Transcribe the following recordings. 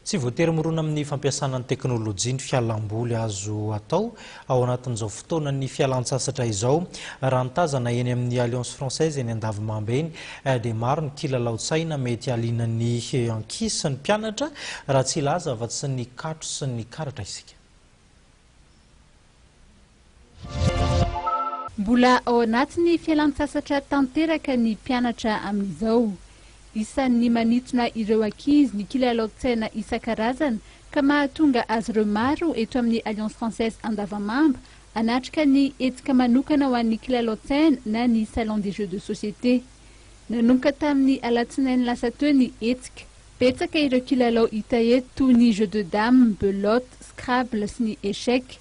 Tsy voatery mirona amin'ny fampiasana ny teknolojia ny fialam-boly azo atao ao anatin'izao fotoanan'ny fialan-tsasatra izao. Raha ny tazana eny amin'ny Alliance Française eny Andavimamba eny dia maro ny kilalaon-tsaina mety haliana ny ankizy sy ny mpianatra raha tsy hilaza afa-tsy ny katro sy ny karatra isika. Mbola ao anatin'ny fialan-tsasatra tanteraka ny mpianatra amin'izao. Isan'ny manintona ireo ankizy ny kilalaon-tsaina isan-karazany ka mahatonga azy ireo maro eto amin'ny Alliance Française Andavamamba hanatrika ny hetsika manokana ho an'ny kilalaon-tsaina na ny Salon des Jeux de Société. Nanomboka tamin'ny alatsinainy lasa teo ny hetsika. Betsaka ireo kilalao hita eto toy ny jeux de dames, belote, scrabble sy ny échecs.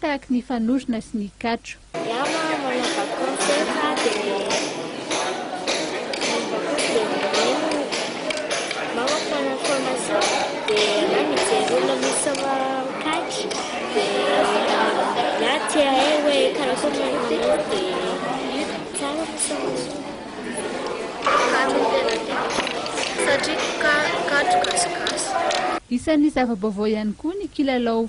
Tahaky ny fanorona sy ny katro. Iah manao vacance efa de Isan'ny zava-baovao ihany koa ny kilalao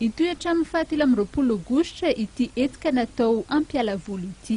Hitohy hatramin'ny fahatelo amby roapolo aogositra ity hetsika natao hampiala voly ity.